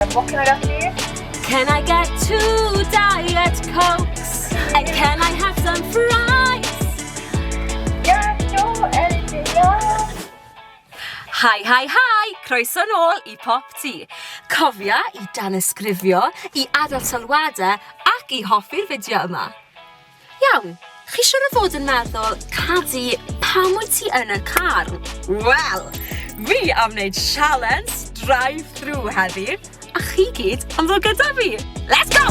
What can I get for you? Can I get two diet cokes? And can I have some fries? Yeah, sure, anything, yeah. Hi, hi, hi! Croeso nôl i Pop Tea. Cofia i dan ysgrifio, i adael sylwadau ac i hoffi'r fideo yma. Iawn, chi siwr o fod yn meddwl, Cadi, pam wyt ti yn y car? Wel, fi am wneud sialens drive-thru heddi, a chi gyd am fod gyda fi! Let's go!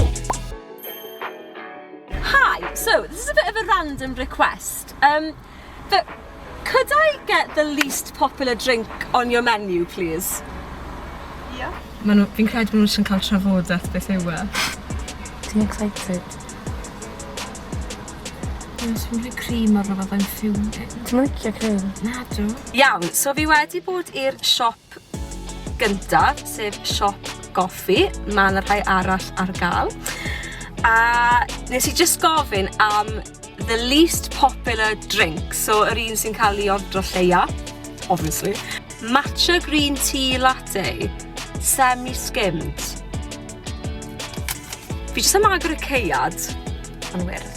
Hi, so this is a bit of a random request. Um, Fe- Could I get the least popular drink on your menu please? Ia. Ma' nw, fi'n credu ma' nw jyst yn ca'l trafodeth beth yw e. Ti'n excited? Ie, so fi'n credu cream ar rwbeth I'm fuming. Ti'm yn licio cream? Nadw. Iawn, so fi wedi bod i'r siop gynta, sef siop goffi, mae yna rhai arall ar gael. A nes i just gofyn am the least popular drink, so yr un sy'n cael ei ordro lleia, obviously. Matcha green tea latte, semi-skimmed. Fi jyst am agor y ceiad. Yn wyrdd.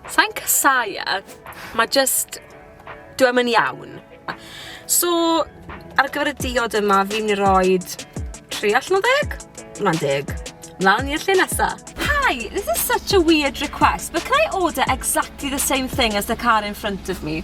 Sa'n casau e, mae just, dwi am yn iawn. So, ar gyfer y diod yma, fi'n mynd i roi 3 allan o ddeg? Hwna'n deg. Mlaen i'r lle nesa. Hi, this is such a weird request, but can I order exactly the same thing as the car in front of me?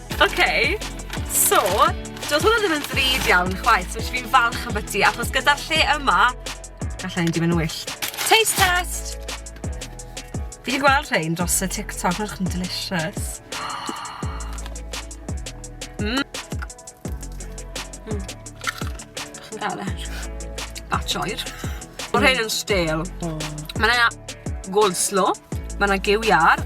Ok, so, doedd hwnna ddim yn ddrud iawn chwaith, so fi'n falch am byti, achos gyda'r lle yma, gallai hyn di mynd yn wyll. Taste test! Fi wedi gweld rhain dros y TikTok, mae'n chyn delicious. Mm. Mm. Chi'n gael e? Batch oer. Mae rhain yn stale. Mae yna gold slow, mae yna gyw iar,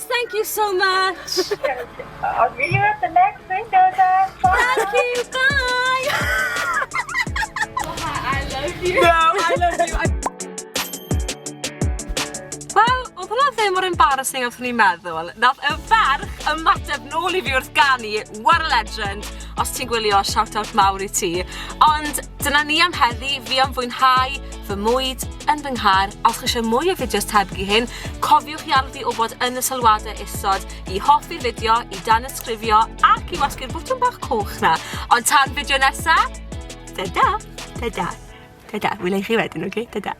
Thank you so much! I'll see you at the next window then! Thank you! Bye! I love you! No, I love you! I... ddim mor embarrassing o'ch ni'n meddwl. Nath y ferch ymateb nôl i fi wrth ganu, what a legend. Os ti'n gwylio, shout out mawr i ti. Ond Dyna ni am heddi, fi am fwynhau fy mwyd yn fy nghar. A os chi eisiau mwy o fideos tebyg i hyn, cofiwch i alw fi wybod yn y sylwadau isod i hoffi'r fideo, i dan ysgrifio ac i wasgu'r bwtwm bach coch na. Ond tan fideo nesa, da da, da da, da da, wyl i chi wedyn, oce? Da da.